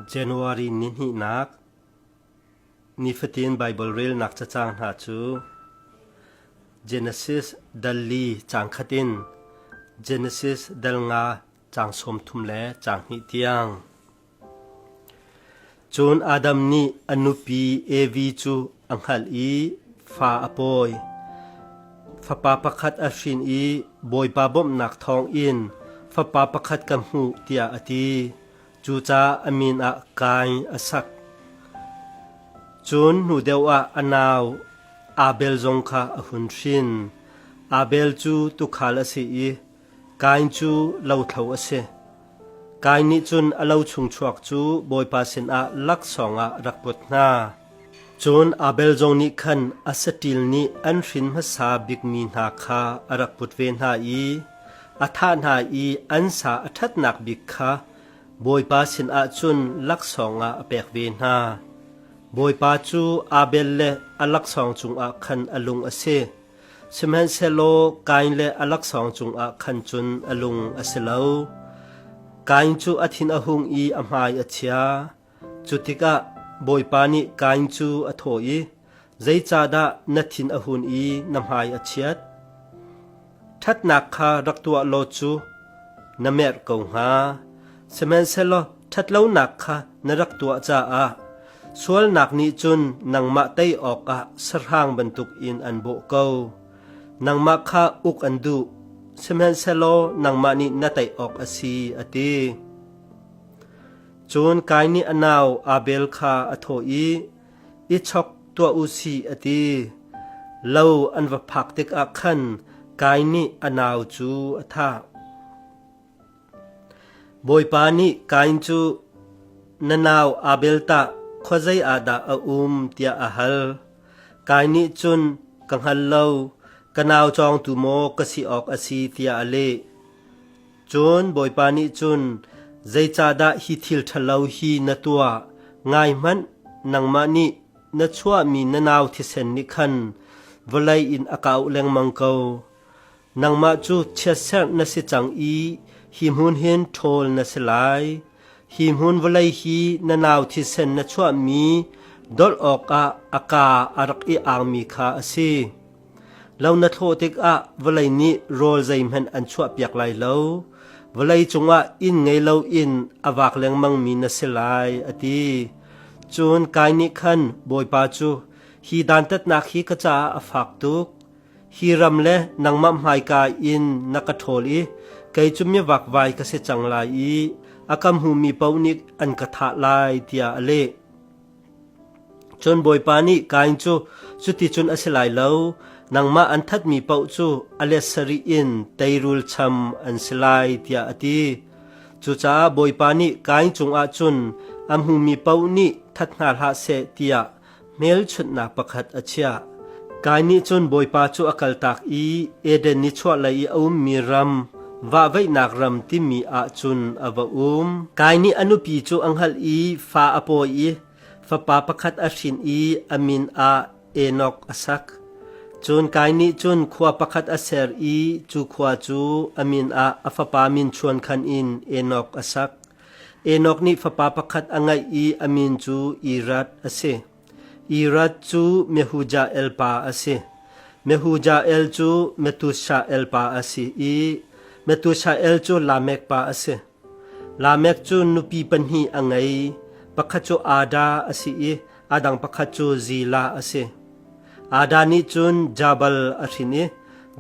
January ni hnihnak Nifatin Baibal relnak cacang hna cu Genesis dal li cang khat in Genesis dal nga cang sawm thum le cang hnih tiang. Cun Adam nih a nupi Evi cu a hngalh i fa a pawi. Fapa pakhat a hrin i Bawipa bawmhnak thawngin fapa pakhat ka hmuh tiah a ti. Cucaah a min ah Kain a sak. Cun hnu deuh ah a nau Abel zong kha a hun hrin. Abel cu tuukhal a si i Kain cu lothlo a si. Kain nih cun a lo chung chuak cu Bawipa sinah laksawng ah rak put hna. Cun Abel zong nih khan asaṭil nih an hrin hmasa bikmi hna kha a rak put ve hna i a thah hna i an sa a ṭhatnak bik kha Bawipa sinah cun laksawng ah a pek ve hna. Bawipa cu Abel le a laksawng cungah khan a lung a si. Sihmanhsehlaw Kain le a laksawng cungah khan cun a lung a si lo. Kain cu a thin a hung i a hmai a chia. Cutikah Bawipa nih Kain cu a thawh i, Zeicahdah na thin a hun i na hmai a chiat? Ṭhatnak kha rak tuah law cu na merh ko hnga. Sihmanhsehlaw Ṭhatlonak kha na rak tuah caah sualnak nih cun nangmah tei awkah sahrang bantukin an bawh ko. Nangmah kha uk an duh, sihmanhsehlaw nangmah nih na tei awk a si, a ti. Cun Kai nih a nau Abel kha a thawh i, I chok tuah u si, a ti. Lo an va phak tikah khan Kai nih a nau cu a thah. Bawipa nih Kain cu, Na nau Abel tah khuazei ah dah a um? tiah a hal. Kain nih cun, Ka hngal lo, ka nau cawngtu maw ka si awk a si, tiah a leh. Cun Bawipa nih cun, Zeicahdah hi thil ṭhalo hi na tuah? Ngai hmanh, nangmah nih na chuahmi na nau thisen nih khan vawlei in a kau lengmang ko. Nangmah cu chiatserh na si cang i hi hmun hin ṭhawl na si lai. Hi hmun vawlei hi na nau thisen na chuahmi dolh awkah a ka a rak i angmi kha a si. Lo na thlawh tikah vawlei nih rawl zeihmanh an chuahpiak lai lo. Vawlei cungah inn ngei loin a vak lengmangmi na si lai, a ti. Cun Kai nih khan, Bawipa cu hi dantatnak hi ka caah a fak tuk. Hi ram le nangmah hmaika in na ka ṭhawl i kei cu miavakvai ka si cang lai i a ka hmumi paoh nih an ka thah lai, tiah a leh. Cun Bawipa nih Kain cu, Cuticun a si lai lo, nangmah an thatmi paoh cu a let sarih in teirul cham an si lai, tiah a ti. Cucaah Bawipa nih Kain cungah cun a hmumi paoh nih that hna hlah seh tiah Hmelchunhnak pakhat a chiah. Kai nih cun Bawipa cu a kaltak i Eden nichuahlei i a ummi ram, vahveihnak ram timi ah cun a va um. Kai nih a nupi cu a hngalh i fa a pawi i fapa pakhat a hrin i a min ah Enok a sak. Cun Kai nih cun khua pakhat a ser i cu khua cu a min ah a fapa min chuankhan in Enok a sak. Enok nih fapa pakhat a ngeih i a min cu Irad a si. Irad cu Mehujael pa a si. Mehujael cu Metushael pa a si i Metushael cu Lamek pa a si. Lamek cu nupi pahnih a ngei. Pakhat cu Ada a si i a dang pakhat cu Zila a si. Ada nih cun Jabal a hrin i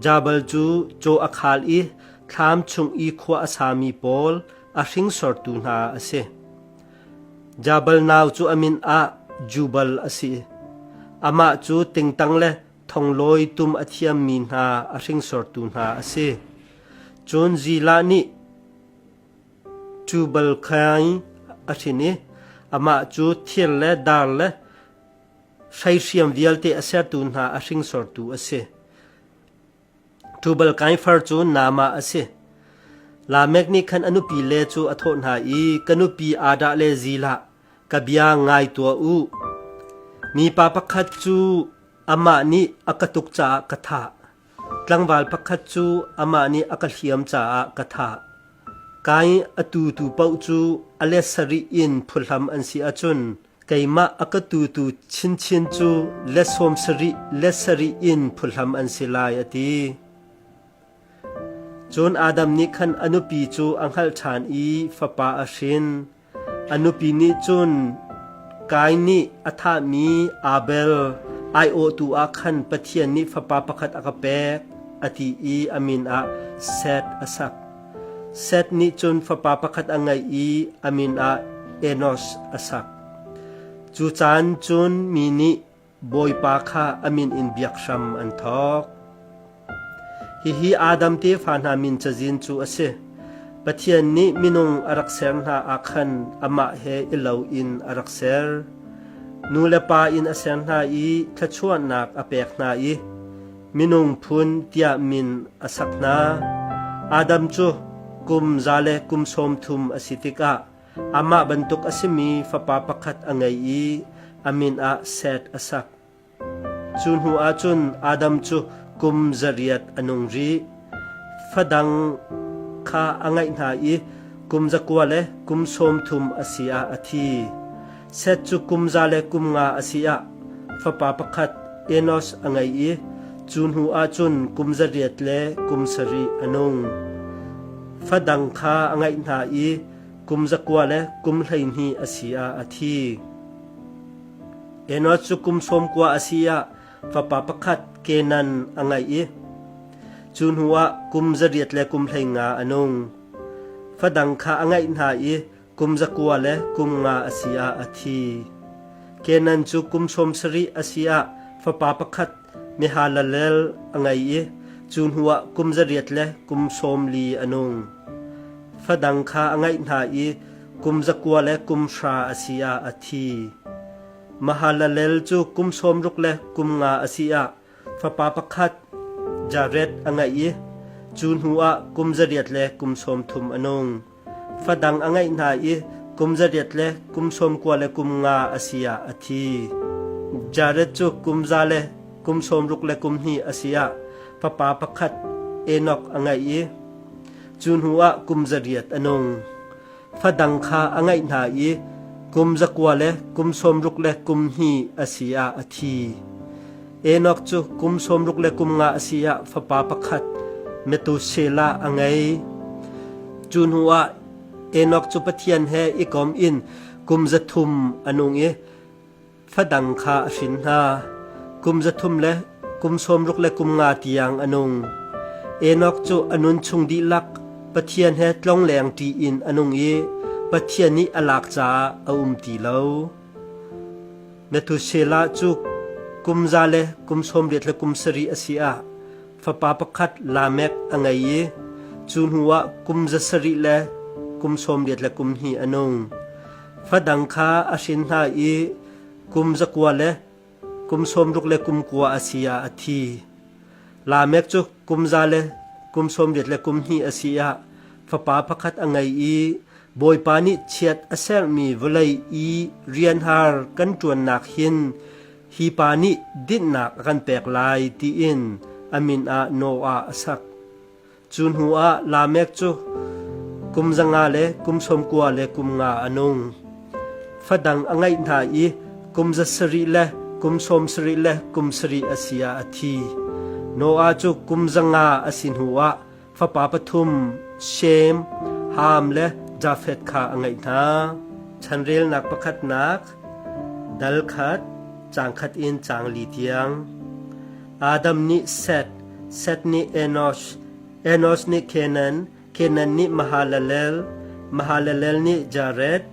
Jabal cu caw a khal i thlam chung i khua a sami pawl a hringsortu hna a si. Jabal nau cu a min ah Jubal a si. Amah cu tingtang le thonglawi tum a thiammi hna a hringsortu hna a si. Cun Zila nih Jubal khaing a hrin i amah cu thir le dar le hreihriam vialte a sertu hna a hringsortu a si. Tubal Kaifar cu Naamah a si. Lamek nih khan a nupi le cu a thawh hna i, Ka nupi Adah le Zilah, ka bia ngai tuah u. Mipa pakhat cu amah nih a ka tuk caah ka thah; tlangval pakhat cu amah nih a ka hliam caah ka thah. Kai a tutu paoh cu a let sarih in phulhhlam an si ahcun, Keimah a ka tutu chinchin cu le sawmsarih le sarih in phuhlam an si lai, a ti. Cun Adam nih khan a nupi cu a hngalh ṭhan i fapa a hrin. A nupi nih cun Kain nih a thahmi Abel aiawhtu ah khan Pathian nih fapa pakhat a ka pek, a ti i a min ah Seth a sak. Seth nih cun fapa pakhat a ngeih i a min ah Enos a sak. Cu caan cun mi nih Bawipa kha a min in biak hram an thawk. Hihi Adam tefa hna min cazin cu a si. Pathian nih minung a rak ser hna ah khan amah he i lo in a rak ser. Nu le pa in a ser hna i thluachuahnak a pek hna i minung phun tiah min a sak hna. Adam cu kum za le kum sawm thum a si tikah amah bantuk a simi fapa pakhat a ngei i a min ah Seth a sak. Cu hnuah cun Adam cu kum zariat a nung rih. Fadang kha a ngaih hna i kum zakua le kum sawmthum a si ah a thi. Seth cu kum za le kum nga a si ah fapa pakhat Enos a ngei i cu hnu ah cun kum zariat le kum sarih a nung. Fadang kha a ngaih hna i kum zakua le kum hleihnih a si ah a thi. Enos cu kum sawmkua a si ah fapa pakhat Kenan a ngeih i cu hnuah kum zariat le kum hleinga a nung. Fadang kha a ngeih hna i kum zakua le kum nga a si ah a thi. Kenan cu kum sawm sarih a si ah fapa pakhat Mehalalel a ngei i cu hnuah kum zariat le kum sawm li a nung. Fadang kha a ngeih hna i kum zakua le kum hra a si ah a thi. Mahalalel cu kum sawmruk le kum nga a si ah fapa pakhat Jared a ngeih i cu hnuah kum zariat le kum sawmthum a nung. Fadang a ngeih hna i kum zariat le kum sawmkua le kum nga a si ah a thi. Jared cu kum za le kum sawmruk le kum hnih a si ah fapa pakhat Enok a ngeih i cu hnuah kum zariat a nung. fadang kha a ngaih hna i kum zakua le kum sawmruk le kum hnih a si ah a thi. Enok cu kum sawmruk le kum nga a si ah fapa pakhat Metusela a ngei. Cu hnu ah Enok cu Pathian he i kom in kum za thum a nung i Fadang kha a hrin hna. Kum za thum le kum sawmruk le kum nga tiang a nung. Enok cu a nun chung dihlak Pathian he tlongleng ṭi in a nung i Pathian nih a lak caah a um ti lo. Methuselah cu kum za le kum sawmriat le kum sarih a si ah fapa pakhat Lamek a ngei i cu hnuah kum za sarih le kum sawmriat le kum hnih a nung. Fadang kha a hrin hna i kum zakua le kum sawmruk le kum kua a si ah a thi. Lamek cu kum za le kum sawmriat le kum hnih a si ah fapa pakhat a ngei i Bawipa nih chiat a sermi vawlei i rianhar kan ṭuannak hin hi pa nih dinhnak a kan pek lai tiin a min ah Noah a sak. Cu hnuah Lamek cu kum za nga le kum sawm kua le kum nga a nung. Fa dang a ngeih hna i kum za sarih le kum sawm sarih le kum sarih a si ah a thi. Noah cu kum za nga a si hnuah fapa pathum Shem, Ham le Jafeth kha a ngeih hna. Chanrelnak pakhatnak, dal khat, cang khat in cang li tiang. Adam nih Seth, Seth nih Enosh, Enosh nih Kenan, Kenan nih Mahalalel, Mahalalel nih Jared,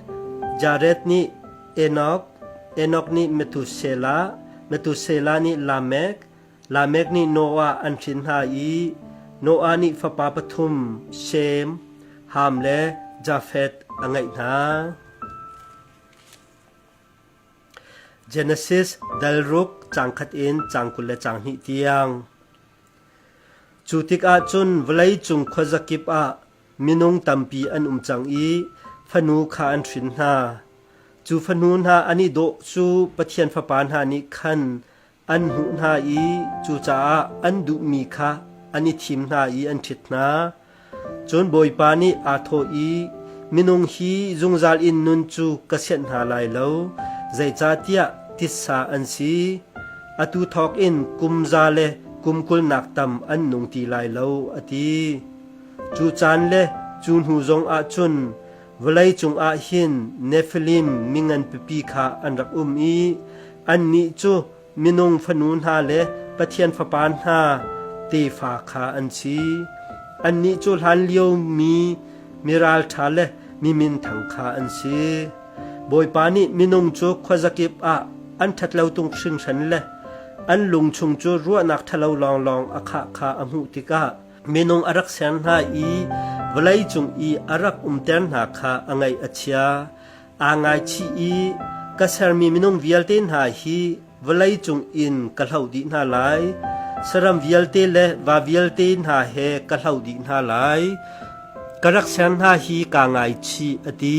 Jared nih Enok, Enok nih Methuselah, Methuselah nih Lamek, Lamek nih Noah an hrin hna i Noah nih fapa pathum Shem, Ham le Jafeth a ngeih hna. Genesis delruk caang khat in caang kul le caang hnih tiang. Cu tikah cun vawleicung khuazakip ah minung tampi an um cang i fanu kha an hrin hna. Cu fanu hna an i dawh cu Pathian Fapa hna nih khan an hnuh hna i cucaah an duhmi kha an i thim hna i an ṭhit hna. Cun Bawipa nih aa thawh i, Minung hi zungzal in nun cu ka sianh hna lai lo, zeicahtiah titsa an si. Atu thawk in kum za le kum kulnak tam an nung ti lai lo, a ti. Cu caan le cu hnu zong ah cun Vawlei cungah hin Nefilim mi nganpipi kha an rak um i annih cu minung fanu hna le Pathian fapa hna tefa kha an si. Annih cu hlanlio mi mi ralṭha le mi minthang kha an si. Bawipa nih minung cu khuazakip ah an ṭhatlo tung hringhran le an lung chung cu ruahnak ṭhalo lawnglawng a khah kha a hmuh tikah Minung a rak ser hna i vawlei cung i a rak umter hna kha a ngaih a chia. Aa ngaichih i ka sermi minung vialte hna hi vawlei cung in ka hloh dih hna lai. Saram vialte le va vialte hna he ka hloh dih hna lai. Ka rak ser hna hi kaa ngaichih, a ti.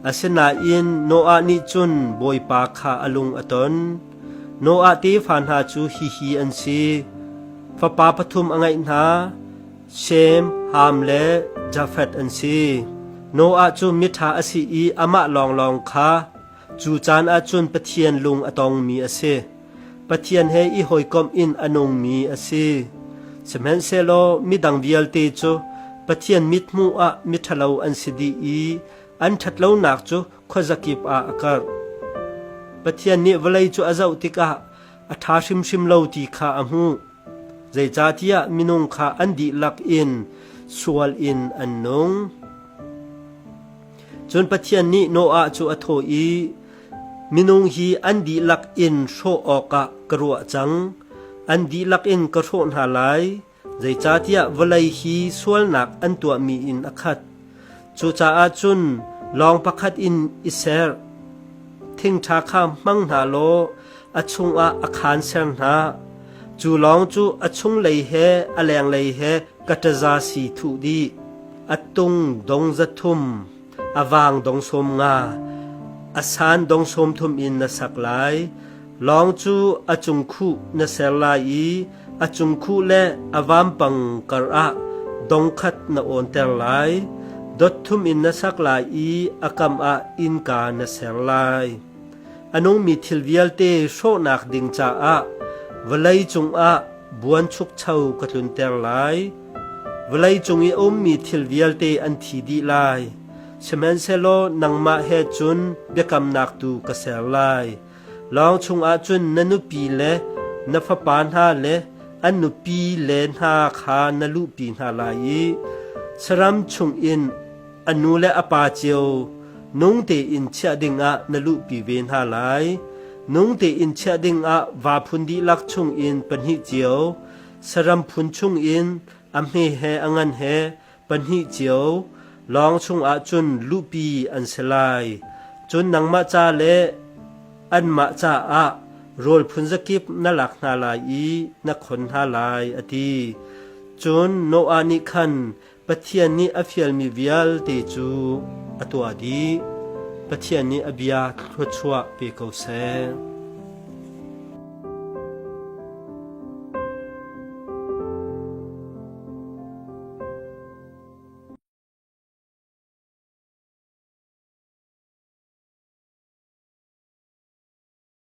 Asinain Noah nih cun Bawipa kha a lung a ton. Noah tefa hna cu hihi an si: fapa pathum a ngeih hna, Shem, Ham le Jafeth an si. Noah cu miṭha a si i amah lawnglawng kha cu caan ah cun Pathian lung a tongmi a si. Pathian he i hawikomh in a nungmi a si. Sihmanhsehlaw midang vialte cu Pathian mithmuh ah miṭhalo an si dih i An ṭhatlonak cu khuazakip ah a karh. Pathian nih vawlei cu a zoh tikah a ṭha hrimhrim lo ti kha a hmuh. Zeicahtiah minung kha an dihlak in sual in an nung. Cun Pathian nih Noah cu a thawh i, Minung hi an dihlak in hrawh awkah ka ruah cang. An dihlak in ka hrawh hna lai. Zeicahtiah vawlei hi sualnak an tuahmi in a khat; cucaah cun lawng pakhat in i ser. Thingṭha kha hmang hna law a chungah a khaan ser hna; cu lawng cu a chunglei he a lenglei he ka ṭaza si thuh dih. A tung dong za thum. A vang dong sawm nga, a san dong sawm thum in na sak lai. Lawng cu a cungkhuh na ser lai i a cungkhuh le a vampang karah dong khat na awnter lai. Dot thum in na sak lai i a kam ah innka na ser lai. A nungmi thil vialte hrawhnak ding caah vawlei cungah buanchukcho ka tlunter lai. Vawlei cung i a ummi thil vialte an thi dih lai. Sihmanhsehlaw nangmah he cun biakamnak tu ka ser lai. Lawng chungah cun na nupi le na fapa hna le an nupi le hna kha na luhpi hna lai i saram chungin a nu le a pa cio nung tein chiah dingah na luhpi ve hna lai. Nung tein chiah dingah vaa phun dihlak chungin pahnih cio, saram phun chungin a hme he a ngan he pahnih cio lawng chungah cun luhpi an si lai. Cun nangmah ca le anmah caah rawl phun zakip na lak hna lai i na khon hna lai, a ti. Cun Noah nih khan Pathian nih a fialmi vialte cu a tuah dih. Pathian nih a bia thluachuah pe ko seh.